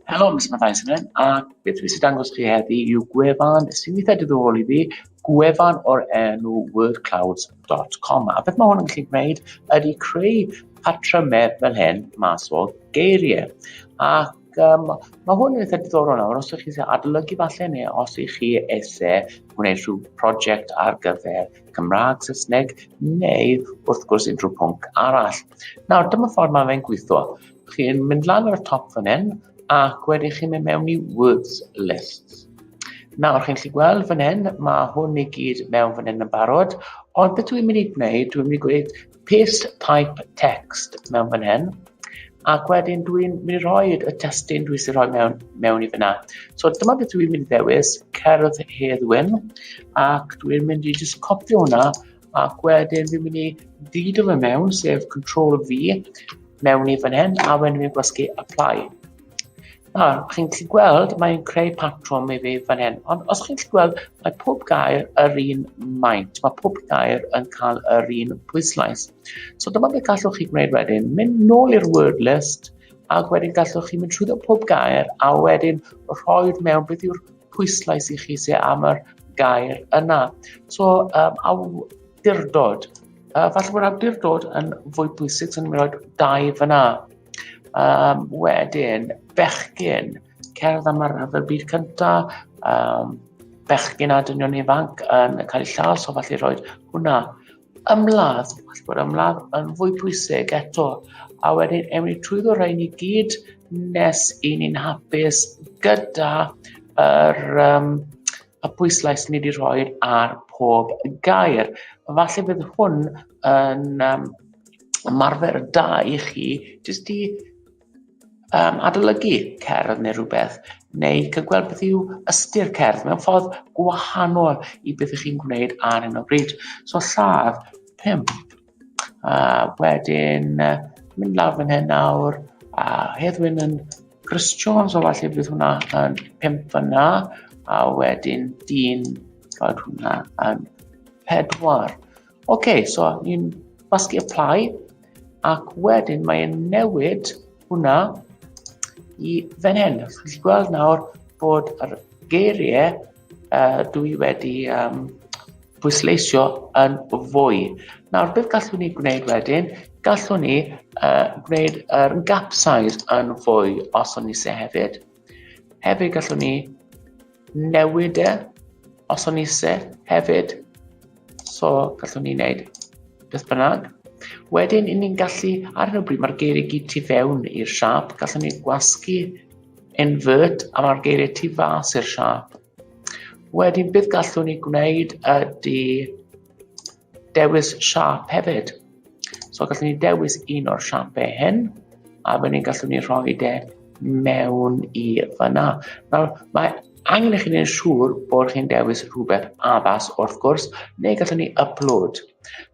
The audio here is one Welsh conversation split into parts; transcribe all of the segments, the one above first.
Helo, mis Matthias yn hyn, a beth rwy'n sy'n dangos chi heddi yw gwefan sy'n weithiau diddorol i fi, gwefan o'r enw wordclouds.com. A beth mae hwn yn gallu gwneud ydy creu patrymau fel hyn mas o geiriau. Ac um, mae hwn yn eitha diddorol nawr, os ydych chi'n adolygu falle neu os ydych chi eisiau gwneud rhyw prosiect ar gyfer Cymraeg, Saesneg, neu wrth gwrs unrhyw pwnc arall. Nawr, dyma ffordd mae fe'n gweithio. Chi'n mynd lan ar y top fan hyn, ac wedi chi'n mynd mewn i words lists. Nawr, chi'n lli gweld fan hyn, mae hwn i gyd mewn fan hyn yn barod, ond beth dwi'n mynd i gwneud, dwi'n mynd i gweud Paste type text mewn fan hyn. Ac wedyn dwi'n mynd i roi y testyn dwi sy'n rhoi mewn, mewn i fyna. So dyma beth dwi'n mynd i ddewis, cerdd Hedd Wyn, ac dwi'n mynd i just copi hwnna, ac wedyn dwi'n mynd i ddido fe mewn, sef Ctrl V, mewn i fan hyn, a wedyn dwi'n gwasgu Apply. A, chi'n gallu gweld, mae'n creu patrwm i fi fan hyn. Ond os chi'n gallu gweld, mae pob gair yr un maint. Mae pob gair yn cael yr un pwyslais. So dyma beth gallwch chi gwneud wedyn. Mynd nôl i'r word list, ac wedyn gallwch chi mynd trwy pob gair, a wedyn rhoi mewn beth yw'r pwyslais i chi sydd am yr gair yna. So, um, awdurdod. Uh, falle bod awdurdod yn fwy bwysig, so ni'n mynd i roi dau fyna. Um, wedyn, bechgyn, cerdd am y rhyfel byd cyntaf, um, bechgyn a dynion ifanc yn cael eu lladd, so falle roed hwnna ymladd, falle bod ymladd yn fwy pwysig eto, a wedyn ewn ni trwy ddod rhain i gyd nes i ni'n hapus gyda yr um, y pwyslais ni wedi rhoi ar pob gair. Falle bydd hwn yn um, ymarfer da i chi jyst i um, adolygu cerdd neu rhywbeth, neu cygweld beth yw ystyr cerdd mewn ffordd gwahanol i beth ych chi'n gwneud ar hyn o bryd. So lladd 5 A wedyn uh, mynd lawr fan hyn nawr. A Heddwyn yn Chris Jones, o falle bydd hwnna yn 5 fyna. A wedyn dyn, roed hwnna yn 4. OK, so ni'n basgu apply. Ac wedyn mae'n newid hwnna i fan hyn. Chi'n gweld nawr bod yr geiriau uh, dw i wedi um, pwysleisio yn fwy. Nawr, beth gallwn ni gwneud wedyn? Gallwn ni uh, gwneud yr er gap size yn fwy os o'n ni se hefyd. Hefyd gallwn ni newid e os o'n ise hefyd. So gallwn ni wneud beth bynnag. Wedyn, i ni'n gallu, ar hyn o bryd, mae'r geiriau gyd tu fewn i'r siap. Gallwn ni gwasgu invert a mae'r geiriau tu fas i'r siap. Wedyn, beth gallwn ni gwneud ydy Dewis siap hefyd. So gallwn ni dewis un o'r siapau hyn, a wedyn ni'n gallwn ni rhoi de mewn i fyna. Nawr, mae angen i chi wneud siŵr bod chi'n dewis rhywbeth addas wrth gwrs, neu gallwn ni upload.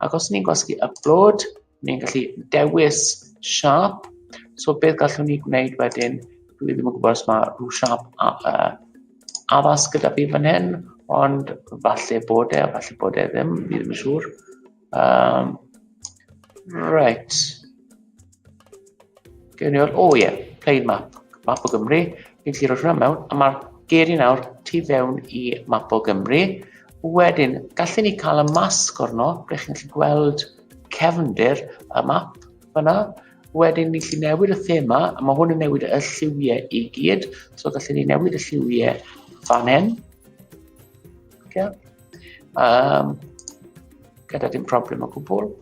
Ac os ni'n gwasgu upload, ni'n gallu dewis siap. So beth gallwn ni gwneud wedyn, dwi ddim yn gwybod os mae rhyw siap uh, addas gyda fi fan hyn, ond falle bod e, falle bod e ddim, fi ddim yn siŵr. Um, right. Gwn i o, oh ie, yeah, plain map, map o Gymru. Fi'n gallu rhoi hwnna mewn, a mae'r geiriau nawr tu fewn i map o Gymru. Wedyn, gallen ni cael y masg orno, ble chi'n gallu gweld cefndir y map fyna. Wedyn ni lli newid y thema, a mae hwn yn newid y lliwiau i gyd, so gallwn ni newid y lliwiau fan hyn. Okay. Um, gyda dim problem o gwbl.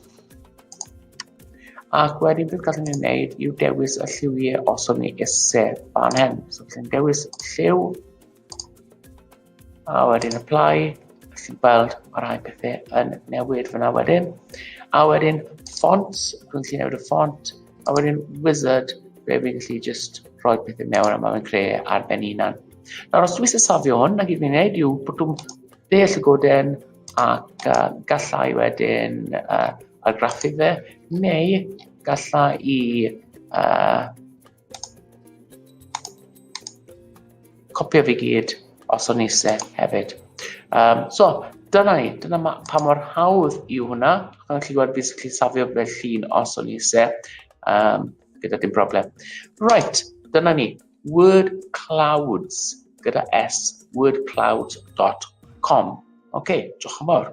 Ac wedyn beth gallwn ni wneud yw dewis y lliwiau os o'n ni eisiau fan hyn. So gallwn ni dewis lliw A wedyn apply, chi'n gweld mae rhai pethau yn newid fyna wedyn. A wedyn fonts, rwy'n gallu newid y font, a wedyn wizard, fe fi'n gallu just rhoi pethau mewn a mae'n creu ar ben unan. Nawr os dwi'n safio hwn, na gyd fi'n gwneud yw bod dwi'n deall y goden ac uh, gallai wedyn uh, argraffu fe, neu gallai i uh, Copio fi gyd os o'n eisiau hefyd. Um, so, dyna ni, dyna ma, pa mor hawdd yw hwnna. Ac o'n chi gweld fi sy'n gallu safio fe llun os o'n eisiau, um, gyda dim broblem. Right, dyna ni, word clouds, gyda s, wordclouds.com. Oce, okay, diolch yn fawr.